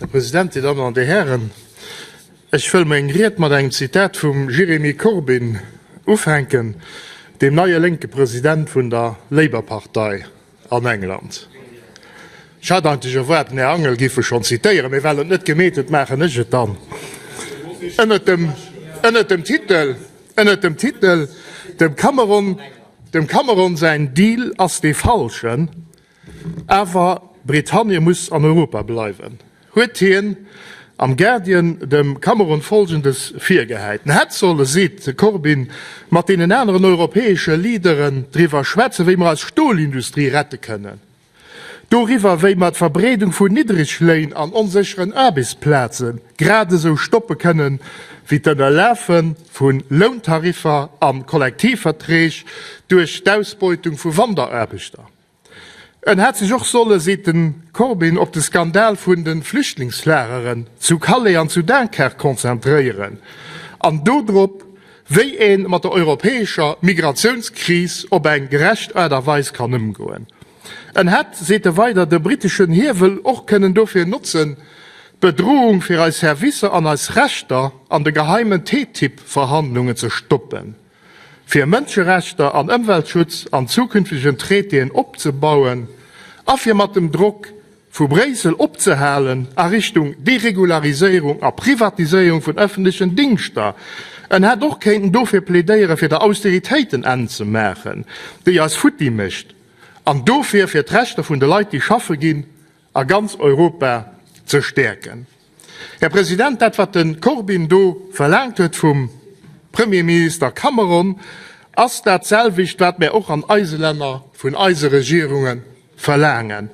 Här President, Dir Dammen an Dir Hären, ech wëll meng Ried mat engem Zitat vum Jeremy Corbyn ufänken, deem neie lénke President vun der Labour-Partei an England. Ech hat eigentlech erwaart, den Här Angel géif e schonn zitéieren, mee well en et net gemeet huet, maachen ech et dann. Ënnert dem, ënnert dem Titel, ënnert dem Titel, Dem Cameron, dem Cameron säin Deal ass dee falschen, Awer Britannie muss an Europa bleiwen, huet hien am Guardian dem Cameron Folgendes virgehäit, En hätt solle, seet de Corbyn, mat deenen aneren europäesche Leaderen driwwer schwätzen, wéi mer eis Stolindustrie rette kënnen, doriwwer, wéi mer d'Verbreedung vu Niddregléin an onsécheren Aarbechtsplaze gradesou stoppe kënnen, wéi d'Ënnerlafe vu Lountariffer a Kollektivverträg duerch d'Ausbeutung vu Wanderaarbechter. En hätt sech och solle, seet de Corbyn, op de Skandal vun de Flüchtlingslageren zu Calais an zu Dunkerque konzentréieren an do drop, wéi ee mat der europäescher Migratiounskris op eng gerecht Aart a Weis kann ëmgoen. En hätt, seet e weider, de briteschen Hiewel och kënnen dofir notzen, d'Bedroung fir eis Servicer an eis Rechter an de geheimen TTIP-Verhandlungen ze stoppen. fir Mënscherechter an Ëmweltschutz an zukünftegen Traitéen opzebauen a fir mat dem Drock vu Bréissel opzehalen a Richtung Deregulariséierung a Privatiséierung vun ëffentlechen Dingschter. En hätt och kéinten dofir plädéiere fir der Austeritéit en Enn ze maachen, déi eis futti mécht, an dofir fir d'Rechter vun de Leit, déi schaffe ginn, a ganz Europa ze stäerken. Här President, dat wat de Corbyn do verlaangt huet vum Premierminister Cameron, ass dat selwecht wat mär och an eise Länner vun eise Regierunge verlaangen,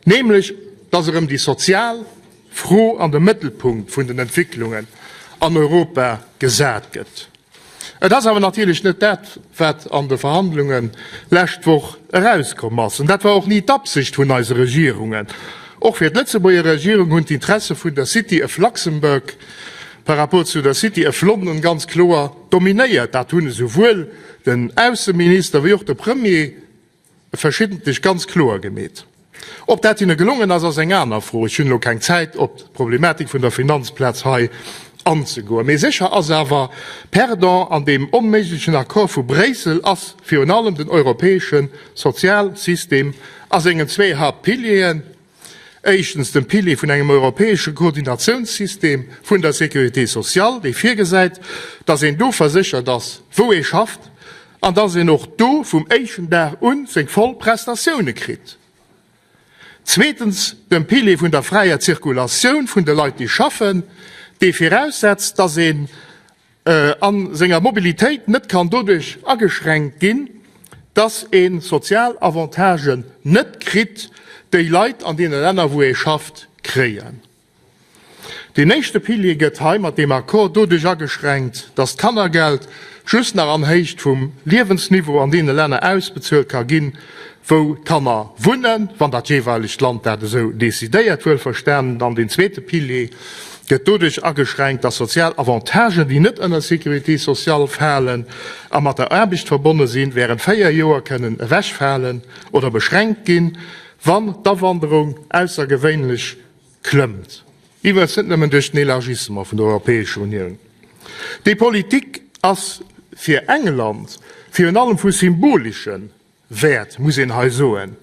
nämlech datt erëm déi sozial Fro an de Mëttelpunkt vun den Entwécklungen an Europa gesat gëtt. Et ass awer natierlech net dat, wat an de Verhandlunge lescht Woch erauskomm ass. An dat war och ni d'Absicht vun eise Regierungen. Och fir d'Lëtzebuerger Regierung hunn d'Interesse vun der City of Luxembourg par rapport zu der City of London ganz kloer dominéiert. Dat hunn esouwuel den Ausseminister wéi och de Premier verschiddentlech ganz kloer gemeet. Ob dat hinne gelongen ass, ass eng aner Fro. Ech hunn elo keng Zäit, op d'Problematik vun der Finanzplaz hei anzegoen. Mee sécher ass awer, Perdant an deem onméiglechen Accord vu Bréissel ass virun allem den europäesche Sozialsystem a sengen zwee Haaptpilieren, Éischtens, dem Pilier vun engem europäesche Koordinatiounssystem vun der Sécurité sociale, dee virgesäit, dass een do verséchert ass, wou ee schafft, an dass een och do vum éischten Dag u seng voll Prestatioune kritt. Zweetens, dem Pilier vun der fräier Zirkulatioun vun de Leit, déi schaffen, dee viraussetzt, dass een a senger Mobilitéit net kann doduerch ageschränkt ginn, dass ee sozial Avantagen net kritt, déi Leit an deene Länner, wou ee schafft, kréien. Deen éischte Pilier gëtt hei mat deem Accord doduerch ageschränkt, dass d'Kannergeld just nach an Héicht vum Liewensniveau an deene Länner ausbezuelt ka ginn, wou d'Kanner wunnen, wann dat jeeweilegt Land dat esou decidéiert, wuelverstanen. Dann deen zweete Pilier gëtt doduerch ageschränkt, dass sozial Avantagen, déi net ënner Sécurité sociale falen a mat der Aarbecht verbonne sinn, während véier Joer kënnen ewechfalen oder beschränkt ginn, wann d'Awanderung aussergewéinlech klëmmt. Iwwregens net nëmmen duerch den Elargissement vun der Europäescher Unioun. Déi Politik ass fir England virun allem vu symboleschen Wäert, muss een hei soen.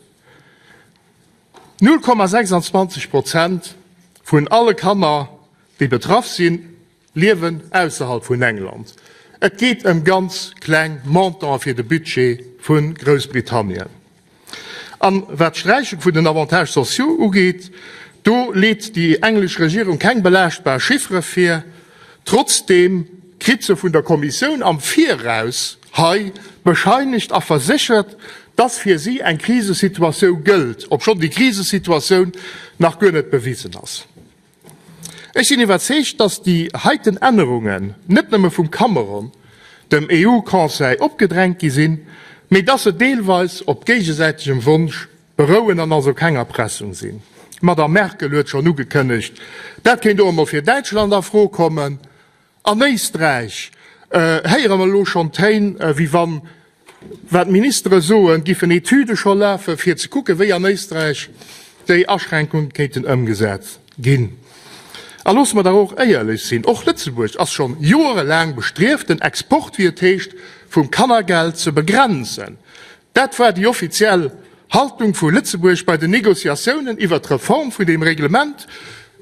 Null Komma 26 Prozent vun alle Kanner, déi betraff sinn, liewen ausserhalb vun England. Et geet ëm ganz kleng Montanten fir de Budget vu Groussbritannien. A wat d'Sträichung vun den Avantages sociaux ugeet, do leet déi englesch Regierung keng belaaschtbar Chiffere vir. Trotzdeem kritt se vun der Kommissioun am Viraus hei bescheinegt a verséchert, dass fir si eng Krisesituatioun gëllt, obschonn déi Krisesituatioun nach guer net bewisen ass. Ech sinn iwwerzeegt, dass déi heiten Ännerungen net nëmme vum Cameron dem EU-Conseil opgedrängt gi sinn, mee dass se deelweis op géigesäitegem Wonsch Berouen an also keng Erpressung sinn. D'Madame Merkel huet schonn ugekënnegt, dat kéint och emol fir Däitschland a Fro kommen. An Éisträich héiere mer elo schonn Téin, wéi wann, wat d'Ministere soen, giffen Etüde scho lafen, fir ze kucken, wéi an Éisträich déi Aschränkunge kéinten ëmgesat ginn. A loosse mer dach och éierlech sinn, och Lëtzebuerg ass schonn joerelaang bestrieft, den Export, wéi et heescht, vum Kannergeld ze begrenzen. Dat war déi offiziell Haltung vu Lëtzebuerg bei den Negociatiounen iwwert d'Reform vun deem Reglement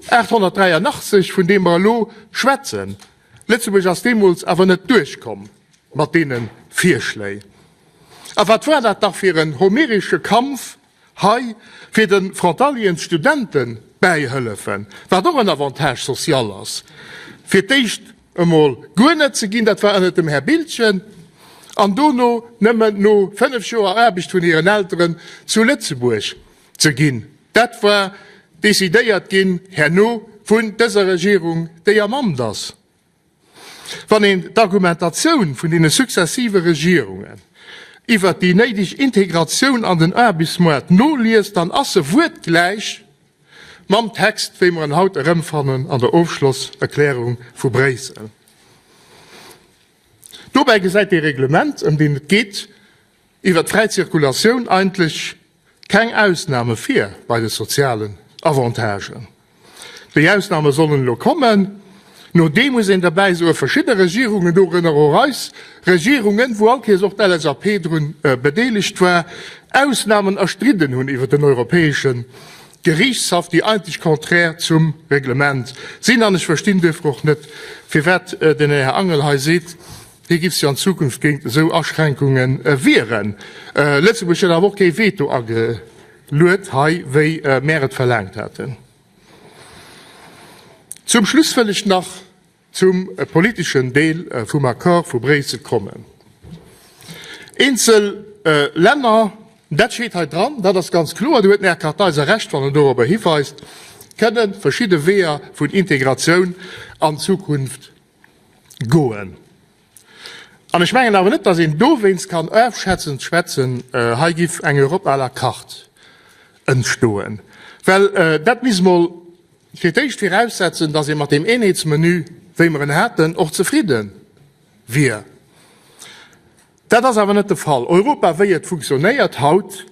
883, vun deem mer elo schwätzen. Lëtzebuerg ass deemools awer net duerchkomm mat deene Virschléi. A wat war dat dach fir en homeresche Kampf Hei fir de Frontaliensstudente bäihëllefen, wat och en Avantage social ass, fir d'éischt emol guer net ze ginn, dat war ënnert dem Här Biltgen, an dono nëmmen no fënnef Joer Aarbecht vun hiren Elteren zu Lëtzebuerg ze ginn. Dat war decidéiert ginn herno vun dëser Regierung, déi am Amt ass. Wann een d'Argumentatioun vun deene successive Regierungen iwwert déi néideg Integratioun an den Aarbechtsmoart noliest, dann ass se wuertgläich mam Text, wéi mer en haut erëmfannen an der Ofschlosserklärung vu Bréissel. Dobäi gesäit dee Reglement, ëm deen et geet, Iwwer d'fräi Zirkulatioun eigentlech keng Ausname vir bei de sozialen Avantagen. Déi Ausname sollen elo kommen. No deem muss een derbäi soe verschidde Regierungen, dorënner och eis Regierungen, wou allkéiers och d'LSAP drun bedeelegt war, Ausnamen erstridden hunn iwwer den Europäesche Geriichtshaff, déi eigentlech contraire zum Reglement sinn. An ech verstinn duerfir och net, firwat den Här Angel hei seet, Wéi géif sech an Zukunft géint esou Aschränkunge wieren? Lëtzebuerg huet awer och kee Veto ageluet hei, wéi mär et verlaangt haten. Zum Schluss wëll ech nach zum politeschen Deel vum Accord vu Bréissel kommen. Eenzel Länner, dat steet hei dran, dat ass ganz kloer, do huet den Här Kartheiser Recht, wann en dorobber hiweist, kënne verschidde Weeër vun Integratioun an Zukunft goen. An ech mengen awer net, datt een dowéinst kann ofschätzend schwätzen, hei giff eng Europe à la carte entstoen, well dat misst emol fir d'éischt viraussetzen, datt ee mat deem Eenheetsmenu, wéi mer en haten, och zefridde wier. Dat ass awer net de Fall. Europa wéi et funktionéiert haut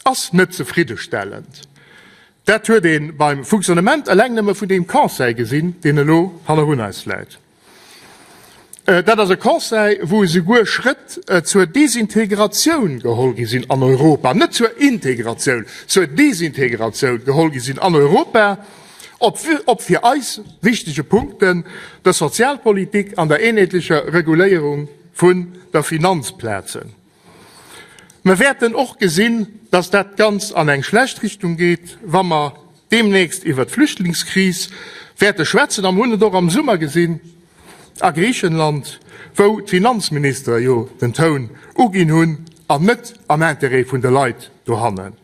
ass net zefriddestellend. Dat huet ee beim Funktionnement eleng nëmme vun deem Conseil gesinn, deen elo hannerun eis läit. Dat ass e Conseil, wou esouguer Schrëtt zur Desintegratioun geholl gi sinn an Europa, net zur Integratioun, zur Desintegratioun geholl gi sinn an Europa, ob fir eis wichtege Punkten der Sozialpolitik an der eenheetlecher Reguléierung, vun der Finanzplazen. Mer wäerten och gesinn, dass dat Ganzt an eng schlecht Richtung geet, wa mer deemnächst iwwert d'Flüchtlingskris wäerte schwätzen. A mer hunn et och am Summer gesinn a Griichenland, wou d'Finanzministere jo den Toun uginn hunn an net am Interêt vun de Leit dohannen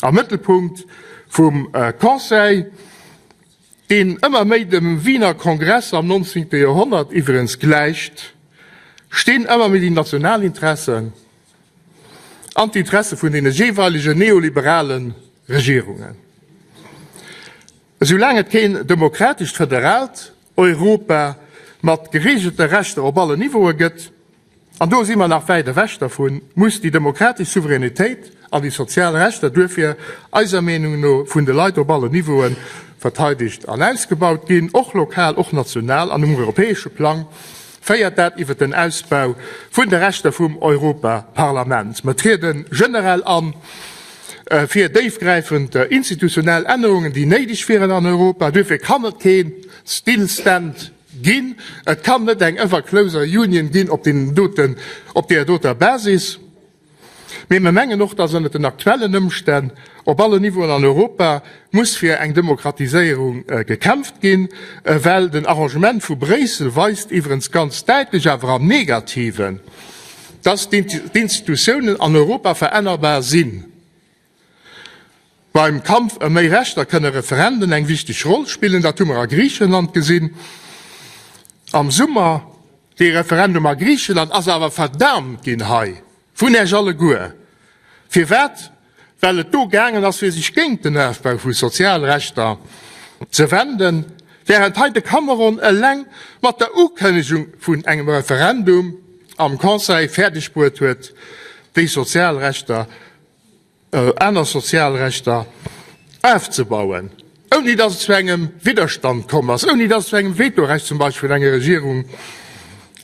am Mëttelpunkt vum Conseil deen ëmmer méi dem Wiener Kongress am 19. Joerhonnert iwwregens gläicht, stinn ëmmer méi déi national Interessen an d'Interesse vun deene jeeweilegen neoliberale Regierungen. Esoulaang et keen demokratescht, föderalt Europa mat gereegelte Rechter op allen Niveaue gëtt, an do si mer nach wäit ewech dervun, muss déi demokratesch Souveränitéit an déi sozial Rechter duerfir eiser Meenung no vun de Leit op alle Niveaue verteidegt an ausgebaut ginn, och lokal, och national an um europäesche Plang féiert dat iwwer den Ausbau vun de Rechter vum Europaparlament. Mer triede generell a fir déifgräifend institutionell Ännerungen, déi néideg wieren an Europa. Duerfir kann et kee Stillstand Ginn. Et kann net eng ever closer union ginn op deenen doten, op deeër doter Basis. Mee mer mengen och, dass ënnert den aktuellen Ëmstänn op allen Niveauen an Europa muss fir eng Demokratiséierung gekämpft ginn, well den Arrangement vu Bréissel weist iwwerens ganz däitlech, awer am Negativen, dass d'Institutiounen an Europa verännerbar sinn. Beim Kampf ëm méi Rechter kënne Referenden eng wichteg Roll spillen. Dat hu mer a Griichenland gesinn am Summer. Dee Referendum a Griichenland ass awer verdaamt ginn hei vun Iech alleguer. Firwat? Well et do gaangen ass, fir sech géint den Ofbau vu Sozialrechter ze wenden, wärend hei de Cameron eleng mat der Ukënnegung vun engem Referendum am Conseil fäerdegbruet huet, déi Sozialrechter aner Sozialrechter afzebauen, ouni datt et zu engem Widderstand komm ass, ouni datt et zu engem Vetorecht zum Beispill vun enger Regierung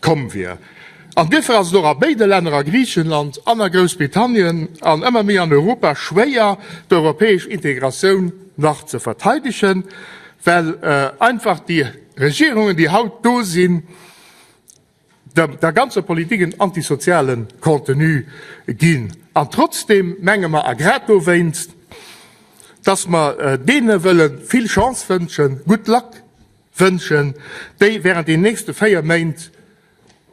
komm wier. An duerfir ass et och a béide Länner, a Griichenland an a Groussbritannien an ëmmer méi an Europa, schwéier, d'europäesch Integratioun nach ze verteidegen, well einfach déi Regierungen, déi haut do sinn, Dem der ganzer Politik en antisozialen Contenu ginn. An trotzdem menge mer, a grad dowéinst, dass mer deene wëlle vill Chance wënschen, good luck wënschen, déi während den nächste véier Méint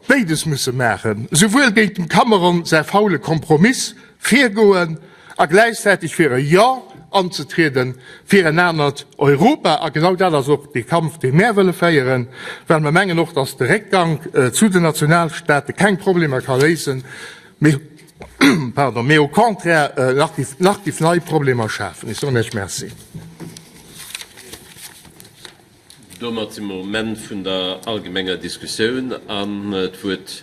béides musse maachen, souwuel géint dem Cameron säi faule Kompromiss virgoen, a gläichzäiteg fir e Jo anzetriede fir en anert Europa. A genau dat ass och dee Kampf, dee mär wëlle féieren, well mer mengen och, dass de Réckgank zu den Nationalstaate keng Problemer ka léisen, mee au contraire nach giff nei Problemer schafen. Ech soen Iech Merci. Domat si mer um Enn vun der allgemenger Diskussioun an d'Wuert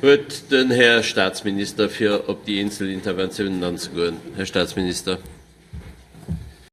huet den Här Statsminister, fir op déi eenzel Interventiounen anzegoen. Här Statsminister.